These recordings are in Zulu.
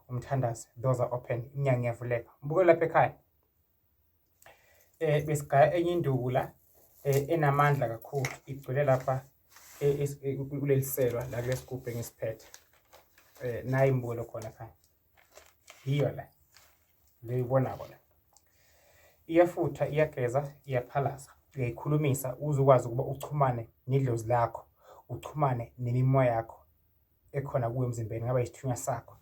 umthandazi doors are open iminyango iyavuleka mbuke lapha ekhaya eh besigaya enye induku la eh, enamandla kakhulu igcwele lapha eh, eh, kuleliselwa la kulesigubhe ngisiphethe eh nayi imbulo khona ekhaya yiyo la leyibona kona iyafutha iyageza iyaphalaza uyayikhulumisa uze ukwazi ukuba uchumane nedlozi lakho uchumane nemimoya yakho ekhona kuwe emzimbeni ngaba isithunywa sakho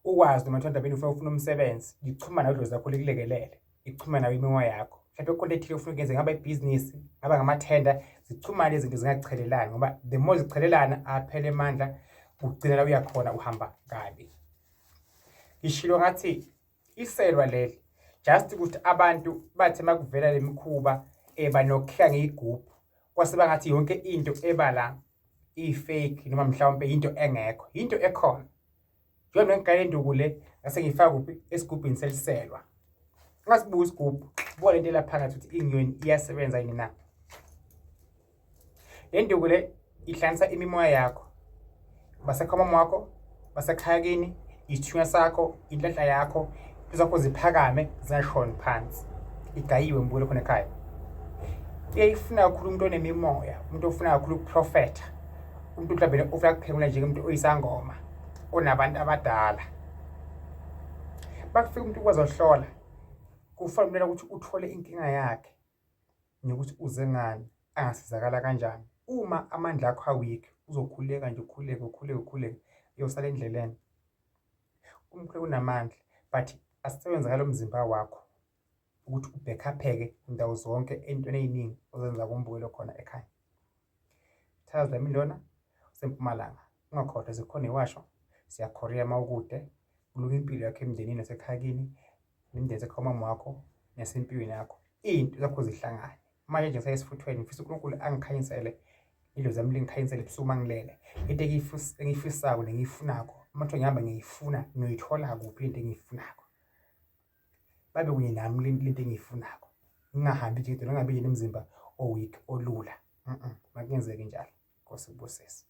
ukwazi noma thanda bini ufuna ufuna umsebenzi ngichuma nawe idlozi lakho likulekelele ichuma nawe imimoya yakho mhlawumbe kukhona ethile ufuna ukuyenza ngaba ibhizinisi ngaba ngamathenda zichumane izinto zingachelelani ngoba the more zichelelana aphele amandla ugcina la uyakhona uhamba kabi ngishilo ngathi iselwa leli just ukuthi abantu bathe makuvela lemikhuba eba eh, nokukhla ngeyigubhu kwase bangathi yonke into eba la i-fake noma mhlawumbe into engekho into ekhona njengoba ngiqale induku le ngase ngifaka kuphi esigubhini seliselwa ungasibuka isigubhu ubone into elaphakathi ukuthi inyoni iyasebenza yini na Le nduku le ihlanganisa imimoya yakho, basekhomom wakho, basekhaya kini, isithunywa sakho, inhlanhla yakho, izakho ziphakame zingashoni phansi, igayiwe ngibuyele khona ekhaya. Uyayifuna kakhulu umuntu onemimoya, umuntu ofuna kakhulu ukuprofetha, umuntu mhlawumbe ofuna kuphengula njengomuntu oyisangoma onabantu abadala. Bakufika umuntu ukwazi ohlola, kufanele ukuthi uthole inkinga yakhe. nokuthi uze ngani angasizakala kanjani uma amandla akho aweak uzokhuleka nje ukhuleke ukhuleke ukhuleke uyosala endleleni umkhuleko unamandla but asisebenza ngalo mzimba wakho ukuthi ubhekhapheke ndawo zonke entweni eyiningi ozenza kumbukelo khona ekhaya Thazla imindona usempumalanga ungakhohlwa zikhona iwasho siyakhoriya uma ukude kulunga impilo yakho emndenini nasekhaya kini nemndeni sekhomama wakho nasempilweni yakho iy'nto zakho zihlangane manje nje sayesifuthweni ngifisa unkulunkulu angikhanyisele idlozi zami lingikhanyisele ebusuku uma ngilele into engiyifisayo nengiyifunako uma kuthiwa ngihamba ngiyifuna ngiyoyithola kuphi into engiyifunako babe kunye nami le nto engiyifunako ngingahambi nje kodwa ngingabi yini umzimba oweak olula makungenzeki njalo nkosi kubusise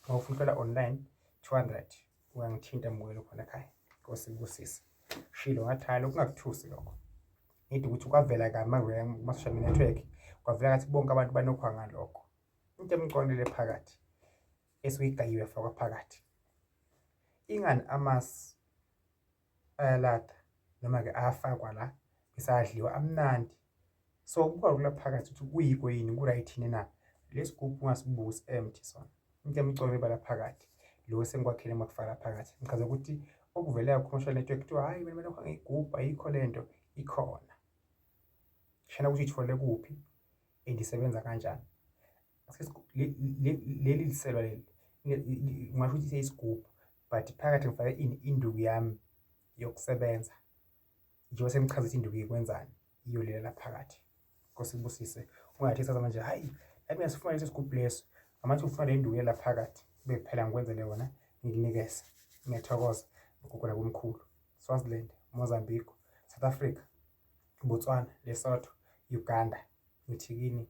uma ufuna uhlala online 200 ungangithinta mbukelo khona ekhaya nkosi kubusise shilo ngathaya lokhu kungakuthusi lokho ngithi ukuthi kwavela kami kuma-social media network kwavela kathi bonke abantu banokhwa ngalokho into emqondele phakathi esuyigayiwe fakwa phakathi ingani amasi ayalatha noma-ke ayafakwa la bese ayadliwa amnandi. So kuba lula phakathi ukuthi kuyiko yini ku-right yini na lesi gubhu ungasibuki si-empty sona into emcono ibala phakathi lo esengikwakhele makufaka phakathi ngichaza ukuthi okuvelayo commercial network kuthiwa hhayi mina mina ngiyigubhu ayikho le nto ikhona shana ukuthi ithole kuphi and isebenza kanjani leli liselwa leli ngingasho ukuthi seyisigubhu but phakathi ngifake ini induku yami yokusebenza njengoba sengichaza ukuthi induku ikwenzani iyo lela laphakathi nkosi kubusise ungathi saza manje hayi nami ngisifuna lesi sigubhu leso ngamanje ngifuna le induku yela phakathi kube kuphela ngikwenzele yona ngikunikeze ngiyathokoza ngigugula komkhulu swaziland mozambique south africa botswana lesotho uganda ngithi kini